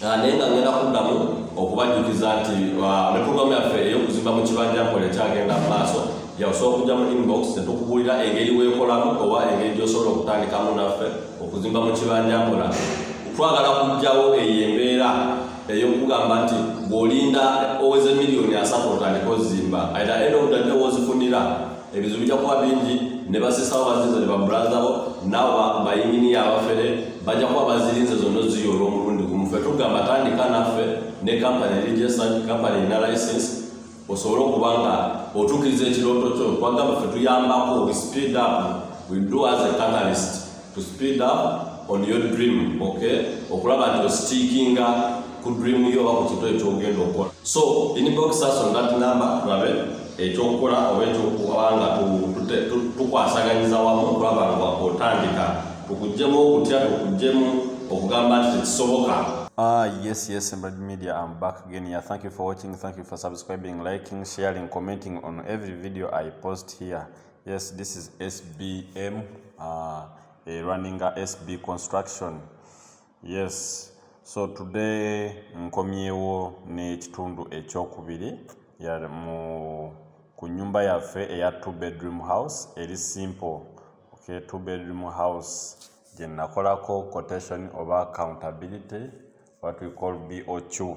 Ah, naye nga ngenda kuddamu okubajjukiza nti ah, ne puroguramu yaffe ey'okuzimba mu kibanja nkola ekyagenda mu maaso yakusobola okujja mu inbox netukubuulira engeri weekolamu oba engeri gy'osobola okutandikamu naffe okuzimba mu kibanja nkola twagala kujjawo eyo embeera ey'okugamba nti bw'olinda oweze miliyoni asatu otandika ozimba aira eno odadewozifunira ebizibu bijja kuba bingi ne basisawo bazirinze ne baburazabo nawa bayinginiya abafere bajja kuba bazirinze zonna oziyo olw'omulundi gumu fe tugamba tandika naffe ne kampani registered kampani erina license osobole okuba nga otuukiriza ekirooto kyo twagamba fe tuyambako we speed up we do as a catalyst to speed up on your dream okay okulaba nti ositikinga ku dream yo oba ku kintu ekyogenda okukola so inbox us on that number tulabe ekyokukola oba ekyokuba nga tukwasaganyiza wamu okulaba nga otandika tukujjemu okutya tukujjemu okugamba nti tekisoboka Ah, yes, yes, Embedded Media, I'm back again here. Thank you for watching, thank you for subscribing, liking, sharing, commenting on every video I post here. Yes, this is SBM, uh, a running a SB construction. Yes, so today nkomyewo n'ekitundu ekyokubiri mu ku nyumba yaffe eya two bedroom house eri simple okay, two bedroom house gye nakolako quotation oba accountability what we call BOQ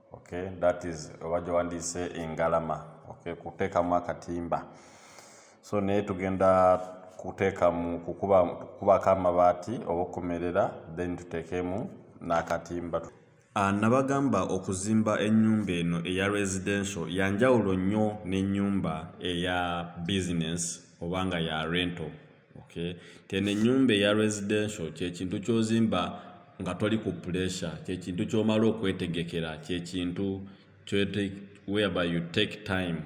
okay that is obajo wandise engalama okay kuteka mu akatimba so ne tugenda kuteka mu kukuba kukuba kama bati obokumerera then tutekemu na katimba ah, nabagamba okuzimba enyumba eno eya residential yanjawulo nyo ne nyumba eya business obanga ya rental Okay. Keno enyumba eya residential kyekintu kyozimba nga toli ku pressure, kyekintu kyomala okwetegekera, kyekintu whereby you take time.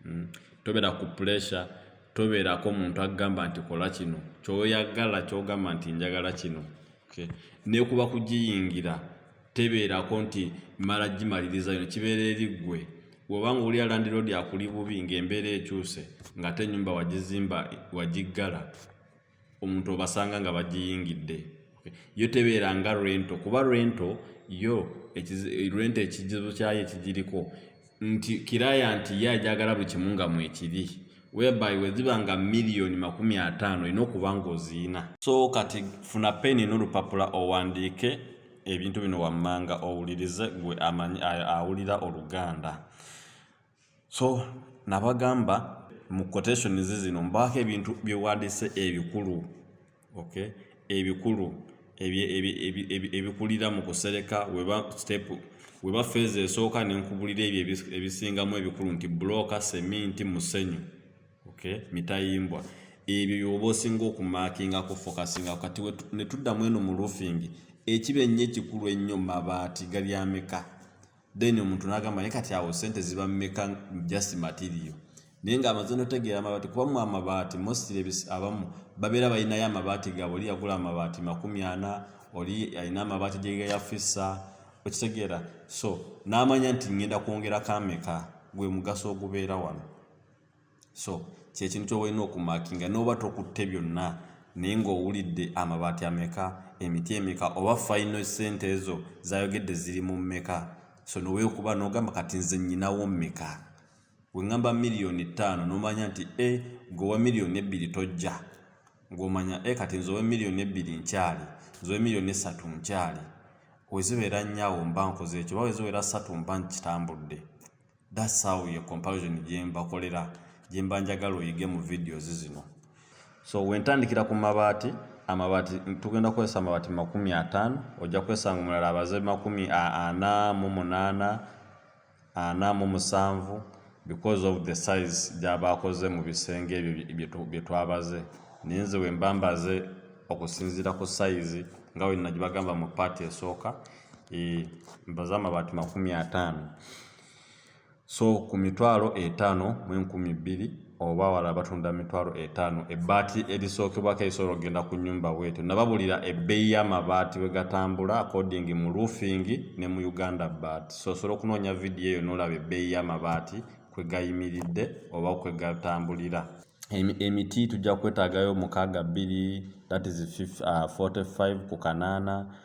Mm. Tobera ku pressure, toberako muntu agamba nti kola kino, kyoyagala kyogamba nti njagala kino. Okay. Nekuba kugiyingira. tebeerako nti mmala gimaliriza yona kibeera eri ggwe woba nga owulira landiroodi akuli bubi ng'embeera ekyuse ng'ate ennyumba wagizimba wagiggala omuntu obasanga nga bagiyingidde yo tebeera nga rento kuba rento yo rento ekizibu kyayo ekigiriko nti kirayanti ye ajagala buli kimu nga mwekiri whereby weziba nga million makumi ataano olina okuba nga oziina so kati funa peni n'olupapula owandiike ebintu bino wammanga owulirize gwe amanyi awulira oluganda so nabagamba mu quotations zino mbaako ebintu byewandise ebikulu okay ebikulu ebikulira mu kusereka weba step weba feeza esooka nenkubulira ebyo ebisingamu ebikulu nti bulooka seminti musenyu okay mitayimbwa ebyo byoba osinga okumaakingako fokasinga kati netuddamu eno mu roofing ekiba ennyo ekikulu ennyo mabaati galyameka then omuntu nagamba naye kati awo sente ziba mmeka just material naye nga amaze notegeera amabaati kuba mu amabaati mostly abamu babeera balinayo amabaati gaabwe oli yagula amabaati makumi ana oli alina amabaati gyegeyafisa okitegeera so n'amanya nti ngenda kwongera kameka gwe mugaso ogubeera wano so kyekintu kyobalina okumakinga noba tokutte byonna naye ngaowulidde amabaati ameka emiti emeka oba fayino sente ezo zayogedde ziri mu meka so nowekuba nogamba kati nze nyinawo meka wengamba miliyoni ttaano nomanya nti e eh, gowa miliyoni ebbiri tojja ngomanya e eh, kati nze owe miliyoni ebbiri nkyali nze owe miliyoni esatu nkyali wezibeera nyawo mba nkoze ekyo oba wezibeera satu mba nkitambudde That's how your comparison gyembakolera gyemba njagala oyige mu videos zino so wentandikira ku mabaati amabaati tugenda kukozesa amabaati makumi ataano ojja kwesanga omulala abaze makumi ana mu munaana ana mu musanvu because of the size gyabaakoze mu bisenge ebyo bye twabaze naye nze wemba mbaze okusinziira ku sayizi nga wenna gye bagamba mu paati esooka eh, nyumba za mabaati makumi ataano so ku mitwalo etaano mu enkumi bbiri oba wala batunda mitwalo etaano ebbaati erisookebwako erisobola okugenda ku nyumba bwetyo nababulira ebbeeyi y'amabaati bwe gatambula according mu roofing ne mu uganda baat so osobola okunoonya vidiyo eyo n'olaba ebbeeyi y'amabaati kwe gayimiridde oba kwe gatambulira emiti tujja kwetaagayo mukaaga bbiri that is 45 uh, ku kanaana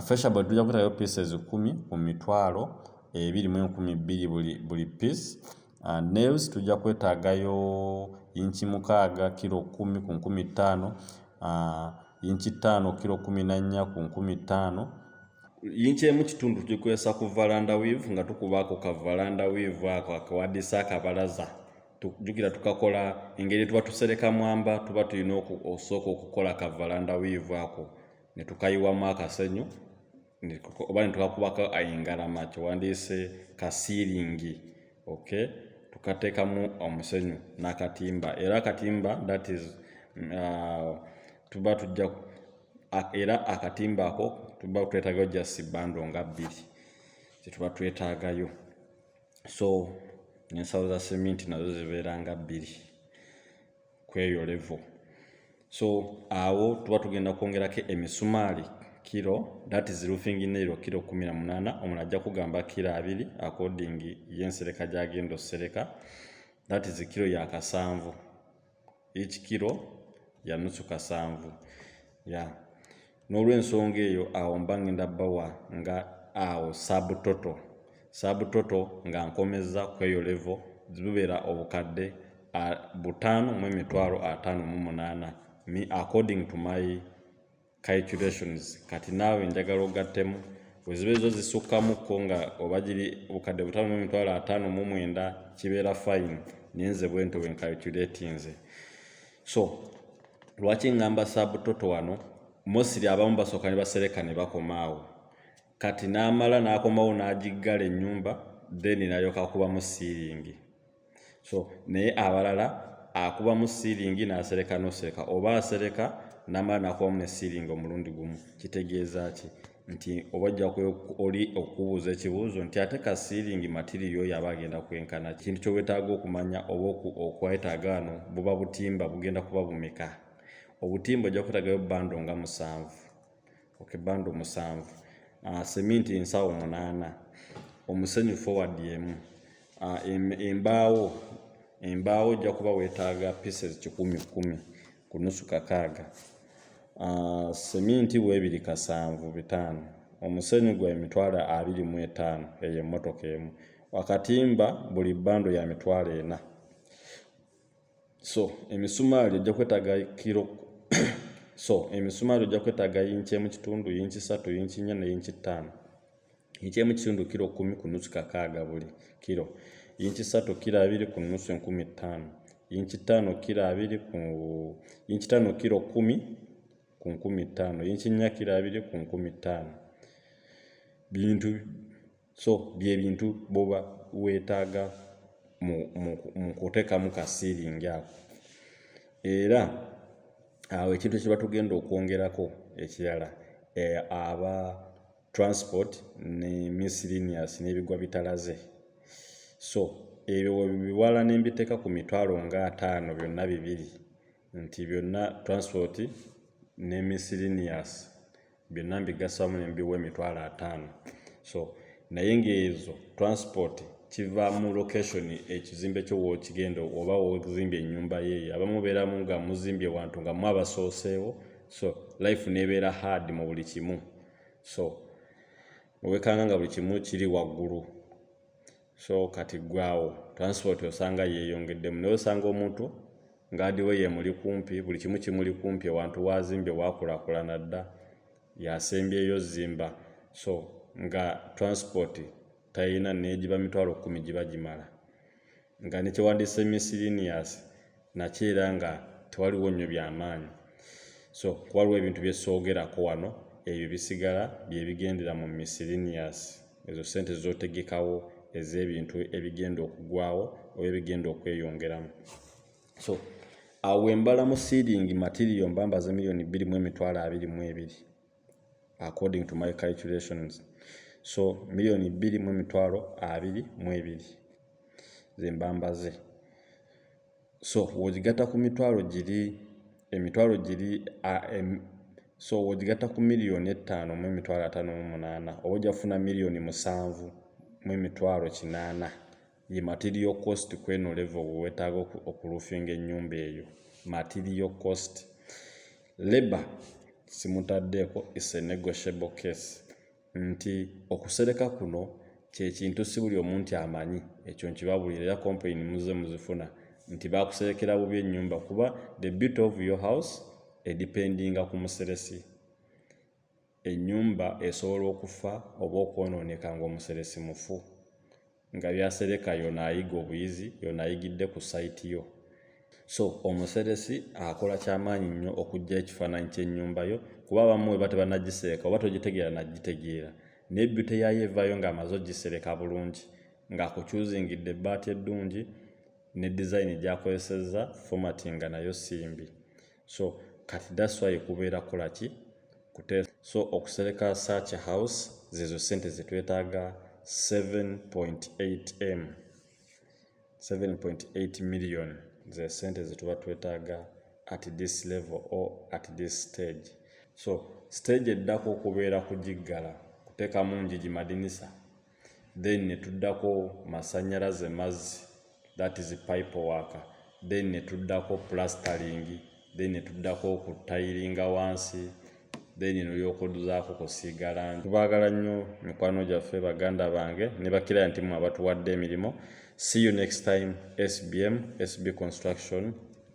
Feshabod tujja kutayo pieces kumi ku mitwalo ebiri mu enkumi bbiri buli, buli piece uh, nails tujja kwetaagayo inchi mukaaga kiro kumi ku nkumi ttaano uh, inchi ttaano kiro kumi na nnya ku nkumi ttaano yinki emu kitundu tugikozesa ku valanda weave nga tukubaako ka valanda weave ako akawadisa akabalaza jukira tukakola engeri tuba tusereka mwamba tuba tulina osooka okukola ka valanda weave ako ne tukayiwamu akasenyu oba ne tukakubako engalama kyewandiise ka siiringi okay tukateekamu omusenyu n'akatimba era akatimba that is uh, tuba tujja era akatimba ako tuba twetagayo just bando nga bbiri kyetuba twetagayo so nensawo za seminti nazo zibeera nga bbiri kweyo level so awo tuba tugenda kwongerako emisumaali kiro that is roofing nairo kiro kumi na munana omuntu ajja kugamba kiro abiri according yensereka gyagenda osereka that is kiro ya kasanvu each kiro ya nusu kasanvu ya yeah. n'olw'ensonga eyo awo mba ngenda bawa nga awo sabutoto sabutoto nga nkomezza kweyo levo zibubeera obukadde butaano mu emitwalo ataano mu munaana me according to my calculations kati naawe njagala ogattemu weziba ezo zisukkakko nga oba giri obukadde butaano mu emitwalo ataano mu mwenda kibeera fine naye nze bwento bwencalculatinze so lwaki ngamba sabutoto wano mosiri abamu basooka ne basereka ne bakomaawo kati n'amala n'akomawo n'agiggala ennyumba then nalyoka akubamu siiringi so naye abalala akubamu siiringi n'asereka n'osereka oba asereka n'amala n'akubamu ne siiringi omulundi gumu kitegeeza ki nti oba ojja oli okubuuza ekibuuzo nti ate ka siiringi matiriyo oyo aba agenda kwenkana kintu kyowetaaga okumanya oba okwetaaga ano buba butimba bugenda kuba bumeka obutimba ojja kwetagayo bando nga musanvu oke bando musanvu ah, seminti ensawo munaana omusenyu forward emu ah, embaawo embaawo ojja kuba wetaaga pieces kikumi kumi ku nusu kakaaga ah, seminti weebiri kasanvu bitaano omusenyu gwa emitwalo abiri mu etaano eyo emmotoka emu wakatimba buli bando ya mitwalo ena so emisumaali ojja kwetaga kiro so emisumaali ojja kwetaga yinki emu kitundu yinki satu yinki nnya ne yinki ttaano ekyemu kitundu kiro kumi ku nusu kakaaga buli kiro yinki satu kiro abiri ku nusu enkumi ttaano yinki ttaano kiro abiri ku yinki ttaano kiro kumi ku nkumi ttaano yinki nnya kiro abiri ku nkumi ttaano bintu so byebintu boba weetaaga mu kuteekamu kasiiringi ako era awo ekintu kye batugenda okwongerako ekirala eh, aba transport ne miscellaneous n'ebigwa bitalaze so ebyo webiwala ne mbiteeka ku mitwalo nga ataano byonna bibiri nti byonna transport ne miscellaneous byonna mbigasamu ne mbiwa emitwalo ataano so naye ng'ezo transport kiva mu location ekizimbe kyo wokigenda oba wozimbye enyumba yeeyo abamu beeramu nga muzimbye wantu nga mwabasooseewo so life nebeera hard mu buli kimu so owekanga nga buli kimu kiri waggulu so kati gwawo transport osanga yeyongeddemu naye osanga omuntu ngaadiwe yemuli kumpi buli kimu kimuli kumpi ewantu wazimbye wakulakulana dda yasembyeyo zimba so nga transport tayina negiba mitwalo kumi giba gimala nga ne kyewandise misirinias nakyo era nga tewaliwo nnyo byamaanyi so kuwaliwo ebintu byesoogerako wano ebyo bisigala byebigendera mu misirinias ezo sente zotegekawo ez'ebintu ebigenda okugwawo oba ebigenda okweyongeramu so awo embala mu seeding material mbambaze miliyoni bbiri mu emitwalo abiri mu ebiri according to my calculations so million bbiri mu emitwalo abiri mu ebiri zembambaze so wogigata ku mitwalo giri emitwalo giri so wogigata ku million ettaano mu emitwalo ataano mu munaana oba ojja kufuna million musanvu mu emitwalo kinaana Ye material cost kweno level wewetaaga okulufinga enyumba eyo material cost labour simutaddeeko is a negotiable case nti okusereka kuno kyekintu si buli omu nti amanyi ekyo nkibabuulira era complain muze muzifuna nti bakuserekera bubi ennyumba kuba the beauty of your house edependinga ku museresi Ennyumba esobola okufa oba okwonooneka ng'omuseresi mufu, nga by'asereka yona ayiga obuyizi, yona ayigidde ku site yo. So omuseresi akola ky'amaanyi nnyo okuggyayo ekifaananyi ky'ennyumba yo kuba abamu weba tebanagisereka oba togitegeera nagitegeera naye byute yaayo evaayo ng'amaze ogisereka bulungi ng'akukyuzingidde ebbaati eddungi ne dizayini gy'akozesezza, fomatinga nayo simbi. so kati that's why kubeera kola ki kute so okusereka such house zezo sente zetwetaaga 7.8 m 7.8 million ze sente zetuba twetaaga at this level or at this stage so stage eddako okubeera kugiggala kuteekamu njigi madinisa then ne tuddako masannyalaze mazzi that is pipe work then ne tuddako plastering then ne tuddako okutayiringa wansi then nolyokoduzaako kusiiga langi tubaagala nnyo mikwano gyaffe baganda bange ne bakiraya nti mwe abatuwadde emirimu see you next time sbm sb construction